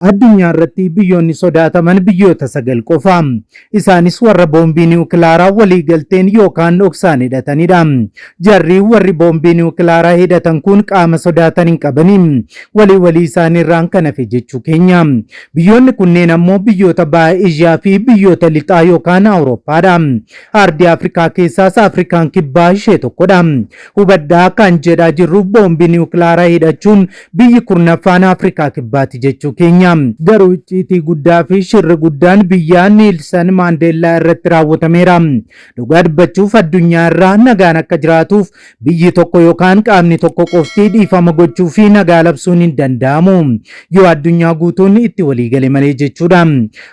Addunyaa irratti biyyoonni sodaataman biyyoota sagal qofa. Isaanis warra boombii niwukilaaraa walii galteen yookaan dhoksaan hidhatanidha. Jarri warri boombii niwukilaaraa hidhatan kun qaama sodaatan hin qabani. Walii walii isaanii irraan kan hafe jechuu keenya. Biyyoonni kunneen ammoo biyyoota baha Eeshiyaa fi biyyoota lixaa yookaan Awurooppaadha. Aardii Afrikaa keessaas Afrikaan kibbaa ishee tokkodha. Hubadhaa akka an jedhaa jirruuf boombii niwukilaara hidhachuun biyyi kurnaffaan Afrikaa Kibbaati jechuu keenya. Garuu icciitii guddaa fi shirri guddaan biyyaa Niilsan Maandeellaa irratti raawwatameera. Dhugaa dubbachuuf addunyaa irra nagaan akka jiraatuuf biyyi tokko yokaan qaamni tokko qofti dhiifama gochuu fi nagaa labsuun hin danda'amu. Yoo addunyaa guutuun itti walii gale malee jechuudha.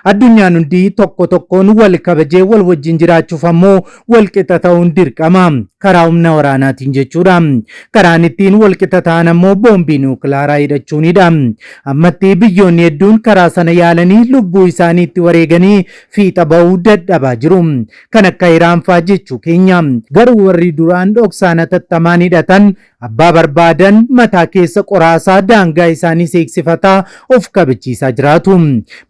Addunyaan hundi tokko tokkoon wal kabajee wal wajjin jiraachuuf ammoo walqixa ta'uun dirqama. Karaa humna waraanaatiin jechuudha. Karaan ittiin walqixa ta'an ammoo boombii niwukilaaraa hidhachuunidha. Ammatti biyyoonni hedduun karaa sana yaalanii lubbuu isaanii itti wareeganii fiixa ba'uu dadhabaa jiru. Kan akka Iraan fa'aa jechuu keenya. Garuu warri duraan dhoksaan hatattamaan hidhatan Abbaa barbaadan mataa keessa qoraasaa daangaa isaaniis eegsifataa of kabachiisaa jiraatu.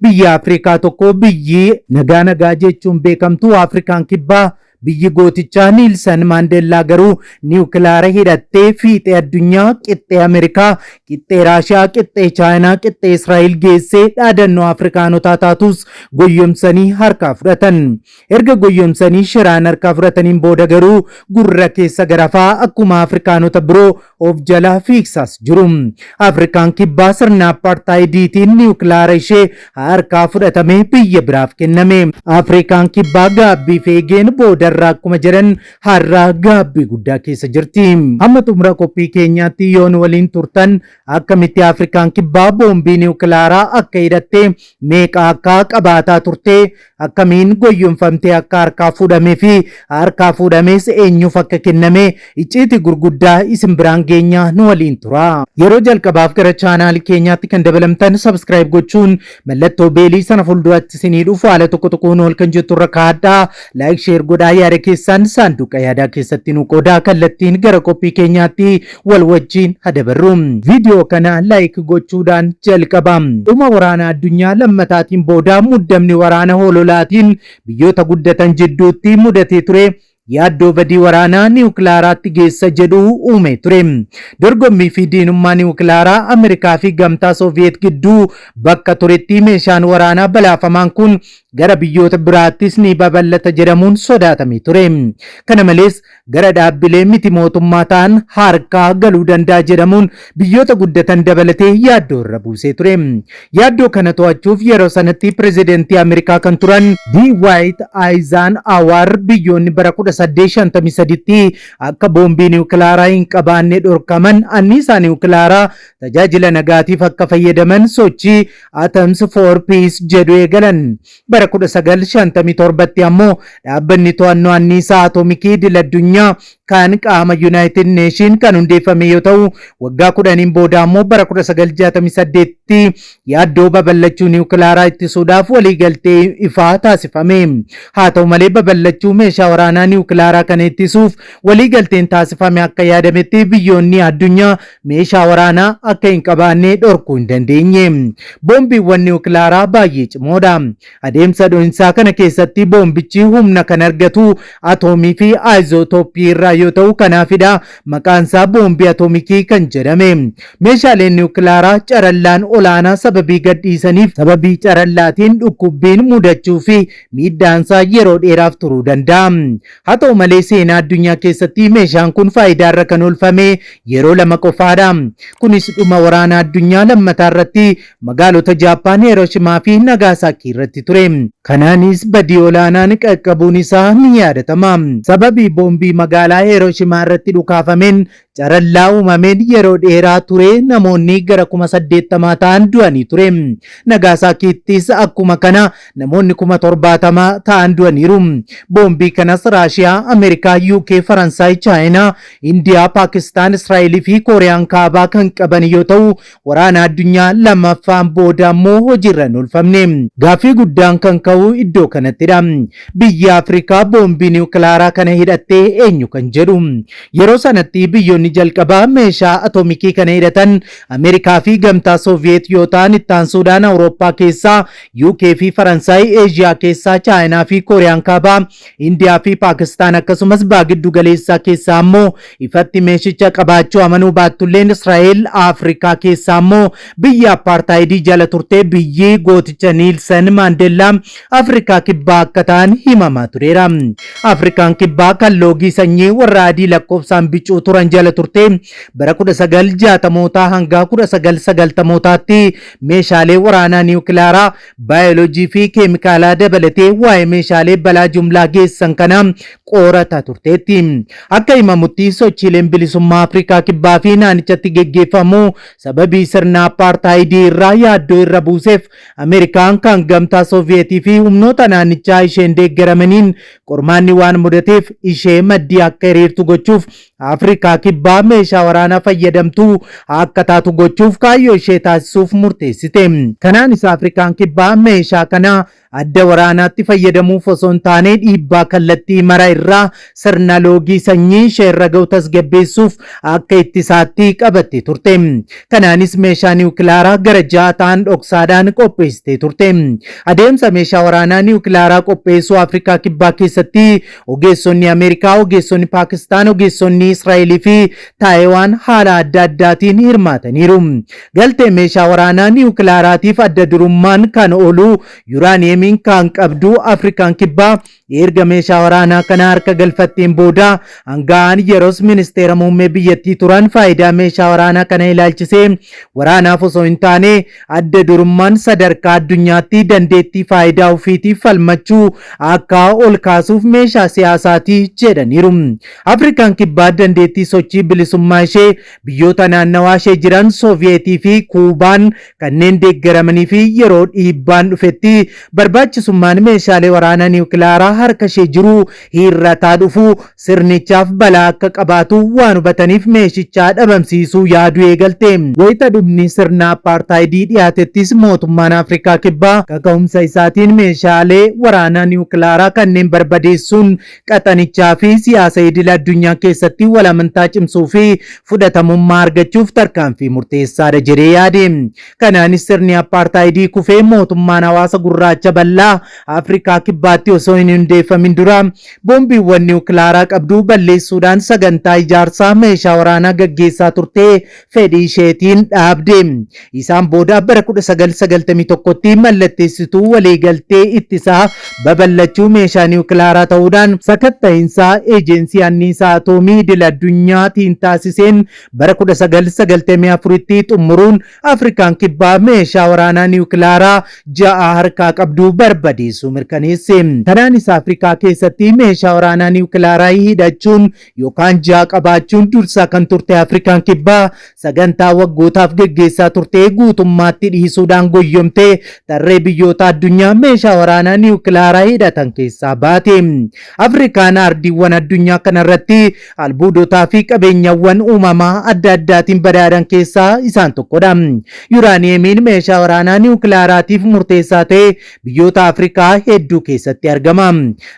Biyya Afrikaa tokko biyyi nagaa nagaa jechuun beekamtu Afrikaan kibbaa biyyi gootichaa Niilsan Maandeellaa garuu niwukilaara hidhattee fiixee addunyaa qixxee Ameerikaa, qixxee Raashiyaa, qixxee Chaayinaa, qixxee Israa'el geessee dhaadannoo Afrikaanotaa taatus goyyomsanii harkaa fudhatan. Erga goyyomsanii shiraan harkaa fudhataniin booda garuu gurra keessa garafaa akkuma Afrikaanota biroo of jalaa fiigsaas jiru. Afrikaan Kibbaa sirna Appaartaayidiitiin niwukilaara ishee harkaa fudhatamee biyya biraaf kenname. Afrikaan Kibbaa gaabbiif eegeen boodarraa akkuma jedhan har'a gaabbii guddaa keessa jirti. Hamma xumura qophii keenyaatti yoo nu waliin turtan akkamitti Afrikaan Kibbaa boombii niwukilaaraa akka hidhattee meeqa akka qabaataa turtee akkamiin goyyomfamtee akka harkaa fuudhamee fi harkaa fuudhamees eenyuuf akka kenname icciitii gurguddaa isin biraan geenya nu waliin tura. Yeroo jalqabaaf gara chaanaalii keenyaatti kan dabalamtan sabskiraayib gochuun mallattoo beelii sana fuulduratti isinii dhufu haala tokko tokkoon ol kan jettu irra kaa'adhaa. Laayik sheer godhaa yaada keessaan saanduqa yaadaa keessatti nu qoodaa kallattiin gara qophii keenyaatti wal wajjiin ha dabarru. Viidiyoo kana like gochuudhaan jalqaba. Dhuma Waraana Addunyaa Lammataatiin booda muddamni waraana hololaatiin biyyoota guddatan jidduutti mudatee ture yaaddoo badii waraanaa niwukilaaraatti geessa jedhu uumee ture. Dorgommii fi diinummaa niwukilaaraa Ameerikaa fi Gamtaa Sooviyeet gidduu bakka turetti meeshaan waraanaa balaafamaan kun gara biyyoota biraattis ni babal'ata jedhamuun sodaatamee ture. Kana malees, gara dhaabbilee miti mootummaa ta'an harkaa galuu danda'a jedhamuun biyyoota guddatan dabalatee yaaddoo irra buusee ture. Yaaddoo kana to'achuuf yeroo sanatti pirezidentii Ameerikaa kan turan Dwight Eisenhower biyyoonni bara 1853tti akka boombii niwukilaaraa hin qabaanne dhorkaman anniisaa niwukilaaraa tajaajila nagaatiif akka fayyadaman sochii Atoms for Peace jedhu eegalan. Bara 1957tti ammoo Dhaabbanni To'annoo Anniisaa Atomikii Idil-addunyaa kan qaama Yunaayitid Neeshin kan hundeeffame yoo ta'u, waggaa kudhaniin booda ammoo bara 1968tti yaaddoo babal'achuu niwukilaaraa ittisuudhaaf waliigaltee ifaa taasifame. Haa ta'u malee babal'achuu meeshaa waraanaa niwukilaaraa kana ittisuuf waliigalteen taasifame akka yaadametti biyyoonni addunyaa meeshaa waraanaa akka hin qabaannee dhorkuu hin dandeenye. Boombiiwwan niwukilaaraa baay'ee cimoodha. Adeemsa dho'insaa kana keessatti boombichi humna kan argatu atoomii fi aayizootoopii irraa yoo ta'u kanaafidha maqaansaa boombii atoomikii kan jedhame. Meeshaaleen niwukilaaraa carallaan olaanaa sababii gadhiisaniif sababii carallaatiin dhukkubbiin mudachuu fi miidhaansaa yeroo dheeraaf turuu danda'a. Haa ta'u malee seenaa addunyaa keessatti meeshaan kun faayidaa irra kan oolfame yeroo lama qofaadha. Kunis dhuma waraana addunyaa lammataa irratti magaalota Jaappaan Hirooshimaa fi Nagaasaakii irratti ture. Kanaanis badii olaanaan qaqqabuun isaa ni yaadatama. Sababii boombii magaalaa Hirooshimaa irratti dhukaafameen Carallaa uumameen yeroo dheeraa ture namoonni gara kuma saddeettamaa ta'an du'anii ture. Nagaasaakiittis akkuma kana namoonni kuma torbaatama ta'an du'aniiru. Boombii kanas Raashiyaa, Ameerikaa, UK, Faransaay, Chaayinaa, Indiyaa, Paakistaan, Israa'elii fi Kooriyaan Kaabaa kan qaban yoo ta'u, Waraana Addunyaa Lammaffaan booda ammoo hojiirra hin oolfamne. Gaaffii guddaan kan ka'u iddoo kanattidha. Biyyi Afrikaa boombii niwukilaaraa kana hidhatte eenyu kan jedhu. Yeroo sanatti biyyoonni jalqabaa meeshaa atoomikii kana hidhatan Ameerikaa fi Gamtaa Sooviyeet yoo ta'an itti aansuudhaan Awurooppaa keessaa UK fi Faransaay, Eeshiyaa keessaa Chaayinaa fi Kooriyaan Kaabaa Indiyaa fi Paakistaan akkasumas baha giddu galeessaa keessaa ammoo ifatti meeshicha qabaachuu amanuu baattulleen Israa'el Afrikaa keessaa ammoo biyya appaartaayidii jala turtee biyyi gooticha Niilsan Maandeellaa Afrikaa kibbaa akka ta'an himamaa tureera. Afrikaan kibbaa kan loogii sanyii warra adii lakkoofsaan bicuu turan jala turtee bara 1960mootaa hanga 1990mootaatti meeshaalee waraanaa niwukilaaraa Baayoloojii fi keemikaalaa dabalatee waa'ee meeshaalee balaa jumlaa geessan kanaa qorataa turteetti. Akka himamutti sochiileen bilisummaa Afrikaa Kibbaa fi naanichatti geggeeffamu sababii sirna appaartaayidii irraa yaaddoo irra buuseef Ameerikaan kan Gamtaa Sooviyeetii fi humnoota naannichaa isheen deeggaramaniin qormaanni waan mudateef ishee maddii akka hiriirtu gochuuf Afrikaa Kibbaa meeshaa waraanaa fayyadamtuu akka taatu gochuuf kaayyoo ishee taasisuuf murteessite. Kanaanis Afrikaan Kibbaa meeshaa kana adda waraanaatti fayyadamuuf osoo hin taane dhiibbaa kallattii mara irraa sirna loogii sanyii ishee irra ga'u tasgabbeessuuf akka ittisaatti qabattee turte. Kanaanis meeshaa niwukilaaraa gara ja'a ta'an dhoksaadhaan qopheessitee turte. Adeemsa meeshaa waraanaa niwukilaaraa qopheessuu Afrikaa Kibbaa keessatti Ogeessonni Ameerikaa, ogeessonni Paakistaan, ogeessonni Israa'elii fi Taayiwaan haala adda addaatiin hirmaataniiru. Galtee meeshaa waraanaa niwukilaaraatiif adda durummaan kan oolu yuraaniyeemiin kan qabdu Afrikaan Kibbaa erga meeshaa waraanaa kana harka galfatteen booda aanga'aan yeros ministeera muummee biyyattii turan faayidaa meeshaa waraanaa kana ilaalchisee waraanaaf osoo hin taane Adda durummaan sadarkaa addunyaatti dandeettii faayidaa ofiitiif falmachuu akka ol kaasuuf meeshaa siyaasaati jedhaniiru. Afrikaan Kibbaa dandeettii sochii bilisummaa ishee biyyoota naannawaa ishee jiran Sooviyeetii fi Kuubaan kanneen deeggaramanii fi yeroo dhiibbaan dhufetti barbaachisummaan meeshaalee waraanaa niwukilaaraa harka ishee jiru hiirrataa dhufu sirnichaaf balaa akka qabaatu waan hubataniif meeshicha dhabamsiisuu yaaduu eegalte. Wayita dhumni sirna Appaartaayidii dhiyaatettis mootummaan Afrikaa Kibbaa kaka'umsa isaatiin meeshaalee waraanaa niwukilaaraa kanneen barbadeessuun qaxanichaa fi siyaasa idil addunyaa keessatti wal amantaa cimsuu fi fudhatamummaa argachuuf tarkaanfii murteessaadha jedhee yaade. Kanaanis sirni Appaartaayidii kufee mootummaan hawaasa gurraacha bal'aa Afrikaa Kibbaatti osoo hin hundeeffamin dura Boombiiwwan niwukilaaraa qabdu balleessuudhaan sagantaa ijaarsaa meeshaa waraanaa gaggeessaa turte fedhii isheetiin dhaabde. Isaan booda bara 1991tti mallatteessituu waliigaltee ittisa babal'achuu meeshaa niwukilaaraa ta'uudhaan, sakatta'insa Eejeensii Anniisaa Atoomii Idil-addunyaa tiin taasiseen bara 1994tti xumuruun Afrikaan Kibbaa meeshaa waraanaa niwukilaaraa ja'a harkaa qabdu barbadeessuu mirkaneesse. Kanaanis Afrikaa keessatti meeshaa waraanaa niwukilaaraa hidhachuun yookaan ja'a qabaachuun dursaa kan turte Afrikaan Kibbaa sagantaa waggootaaf geggeessaa turte guutummaatti dhiisuudhaan goyyomtee tarree biyyoota addunyaa meeshaa waraanaa niwukilaaraa hidhatan keessaa baate. Afrikaan ardiiwwan addunyaa kanarratti Albuudotaa fi qabeenyawwan uumamaa adda addaatiin badhaadhan keessaa isaan tokkodha. Yuraaniyeemiin meeshaa waraanaa niwukilaaraatiif murteessaa ta'e biyyoota Afrikaa hedduu keessatti argama.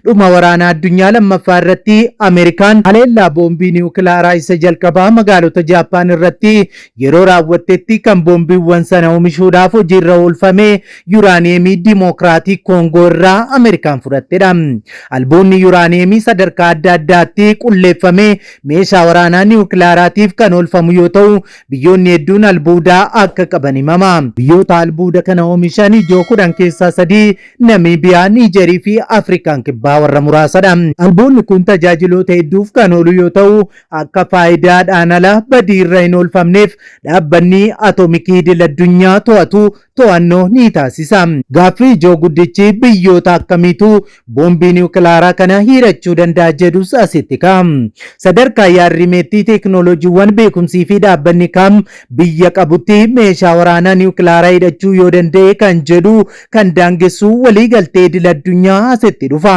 Dhuma waraana addunyaa lammaffaa irratti Ameerikaan haleellaa boombii niwukilaaraa isa jalqabaa magaalota Jaappaan irratti yeroo raawwattetti kan boombiiwwan sana oomishuudhaaf hojiirra oolfame Yuraaniyeemii Dimookiraatik Koongoo irraa Ameerikaan fudhattedha. Albuudni yuraaniyeemii sadarkaa adda addaatti qulleeffamee meeshaa waraanaa niwukilaaraatiif kan oolfamu yoo ta'u, biyyoonni hedduun albuuda akka qaban himama. Biyyoota albuuda kana oomishan ijoo kudhan keessaa sadii Namiibiyaa, Niijerii fi Afrikaan Kibbaa warra muraasadha. Albuudni kun tajaajiloota hedduuf kan oolu yoo ta'u, akka faayidaadhaan ala badii irra hin oolfamneef Dhaabbanni Atomikii Idil-addunyaa to'atu to'annoo ni taasisa. Gaaffii ijoo guddichi biyyoota akkamiitu boombii niwukilaaraa kana hiirachuu danda'a jedhus asitti ka'a. Sadarkaa yaad-rimeetti teeknooloojiiwwan beekumsii fi dhaabbanni kam biyya qabutti meeshaa waraanaa niwukilaaraa hidhachuu yoo danda'e kan jedhu kan daangessu waliigaltee idil-addunyaa asitti dhufa.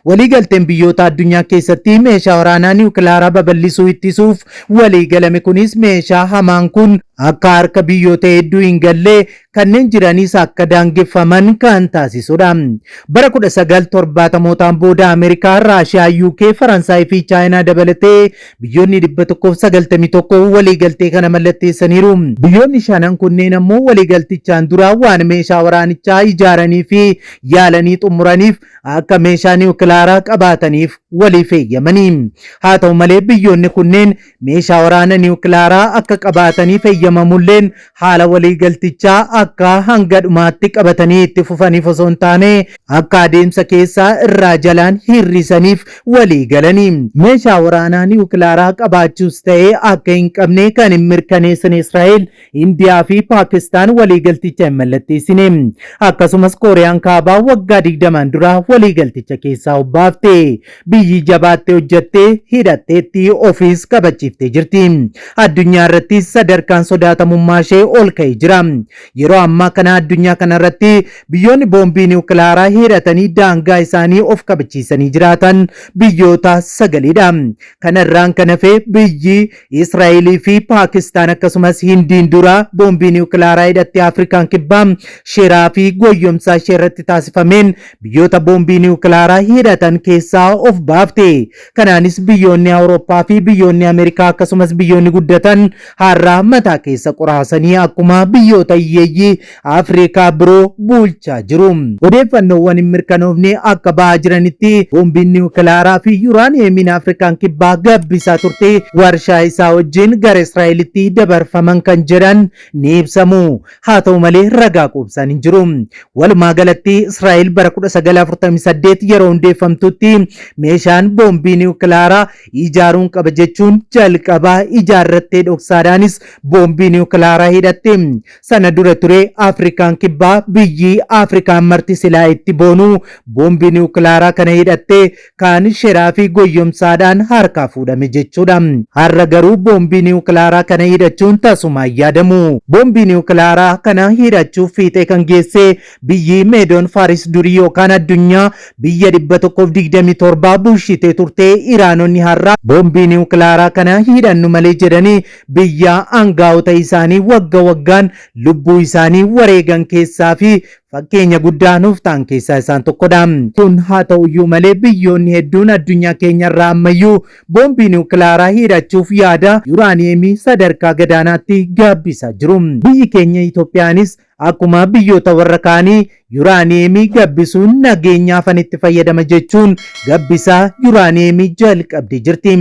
Waliigalteen biyyoota addunyaa keessatti meeshaa waraanaa niwukilaaraa babal'isuu ittisuuf Walii galame kunis meeshaa hamaan kun akka harka biyyoota hedduu hin galle, kanneen jiranis akka daangeffaman kan taasisudha. Bara 1970mootaan booda Ameerikaa, Raashiyaa, UK, Faransaay fi Chaayinaa dabalatee biyyoonni 191 walii galtee kana mallatteessaniiru. Biyyoonni shanan kunneen ammoo walii galtichaan dura waan meeshaa waraanichaa ijaaranii fi yaalanii xumuraniif akka meeshaa niwukilaaraa qabaataniif waliif eeyyamanii. Haa ta'u malee biyyoonni kunneen meeshaa waraana niwukilaaraa akka qabaataniif eeyyamamulleen haala waliigaltichaa akka hanga dhumaatti qabatanii itti fufaniif osoo hin taane akka adeemsa keessaa irraa jalaan hir'isaniif walii galanii. Meeshaa waraanaa niwukilaaraa qabaachuus ta'ee akka hin qabne kan hin mirkaneessine Israa'el Indiyaa fi Paakistaan waliigalticha hin mallatteessine. Akkasumas Kooriyaan Kaabaa waggaa digdamaan dura waliigalticha keessaa obbaafte. Biyyi jabaattee hojjattee, hidhatteetti, ofiis kabachiiftee jirti. Addunyaa irrattis sadarkaan sodaatamummaa ishee ol ka'ee jira. Yeroo ammaa kana addunyaa kana irratti biyyoonni boombii niwukilaaraa hidhatanii daangaa isaanii of kabachiisanii jiraatan biyyoota sagaliidha. Kana irraan kan hafe biyyi Israa'elii fi Paakistaan akkasumas Hindiin dura boombii niwukilaaraa hidhatti Afrikaan kibbaa sheeraa fi goyyomsaa ishee irratti taasifameen biyyoota boombii niwukilaaraa hidhatan keessaa of baafte. Kanaanis biyyoonni Awurooppaa fi biyyoonni Ameerikaa akkasumas biyyoonni guddatan har'a mataa keessa qoraasanii akkuma biyyoota hiyyeeyyii Afrikaa biroo bulchaa jiru. Odeeffannoowwan hin mirkanoofne akka ba'aa jiranitti boombiin niwukilaaraa fi yuraaniyeemiin Afrikaan Kibbaa gabbisaa turte warshaa isaa wajjin gara Israa'elitti dabarfaman kan jedhan ni ibsamu. Haa ta'u malee ragaa quubsaan hin jiru. Walumaa galatti Israa'el bara 1948 yeroo hundeeffamtutti meeshaan boombii niwukilaaraa ijaaruun qaba jechuun jalqaba ijaarrattee dhoksaadhaanis boombii niwukilaaraa hidhatte. Sana dura ture Afrikaan Kibbaa biyyi Afrikaan marti silaa itti boonu boombii niwukilaaraa kana hidhattee kaan sheraa fi goyyomsaadhaan harkaa fuudhame jechuudha. Har'a garuu boombii niwukilaaraa kana hidhachuun tasumaa hin yaadamu. Boombii niwukilaaraa kana hidhachuuf fiixee kan geessee biyyi Meedoon Faaris durii yookaan addunyaa biyya 127 bulshitee turtee Iraanonni har'a boombii niwukilaaraa kana hidhannu malee jedhanii biyyaa aangaa'ota isaanii wagga waggaan lubbuu isaanii wareegan keessaa fi fakkeenya guddaa nuuf ta'an keessaa isaan tokkodha. Kun haa ta'uyyuu malee biyyoonni hedduun addunyaa keenyarraa ammayyuu boombii niwukilaaraa hidhachuuf yaada yuraaniyeemii sadarkaa gadaanaatti gaabbisaa jiru. Biyyi keenya Itoophiyaanis Akkuma biyyoota warra kaanii yuraaniyeemii gabbisuun nageenyaaf an itti fayyadama jechuun gabbisaa yuraaniyeemii jalqabdee jirti.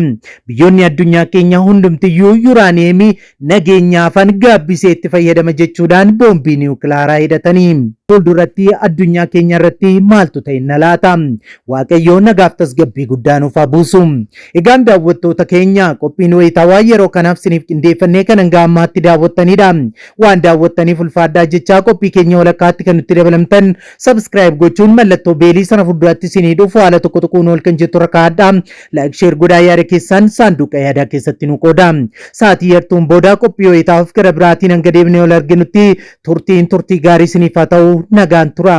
Biyyoonni addunyaa keenya hundumtiyyuu yuraaniyeemii nageenyaafan gabbisee itti fayyadama jechuudhaan boombii niwukilaaraa hidhatanii. Fuulduratti addunyaa keenya irratti maaltu ta'e na laata? Waaqayyoo nagaaf tasgabbii guddaa nuuf haa buusu. Egaan daawwattoota keenya qophiin wayitawaa yeroo kanaaf siniif qindeeffannee kan hanga ammaatti daawwattanidha. Waan daawwattaniif ulfaadhaa jechaa qophii keenya walakkaatti kan nutti dabalamtan subscribe gochuun mallattoo beelii sana fuulduratti isinii dhufu haala tokko tokkoon ol kan jettu rakkaadhaa like share godhaa yaada keessaan saanduqa yaadaa keessatti nu qooda. Sa'aatii yartuun booda qophii wayitaaf gara biraatiin hanga deebinee ol arginutti turtiin turtii gaarii isiniif haa ta'u nagaan tura.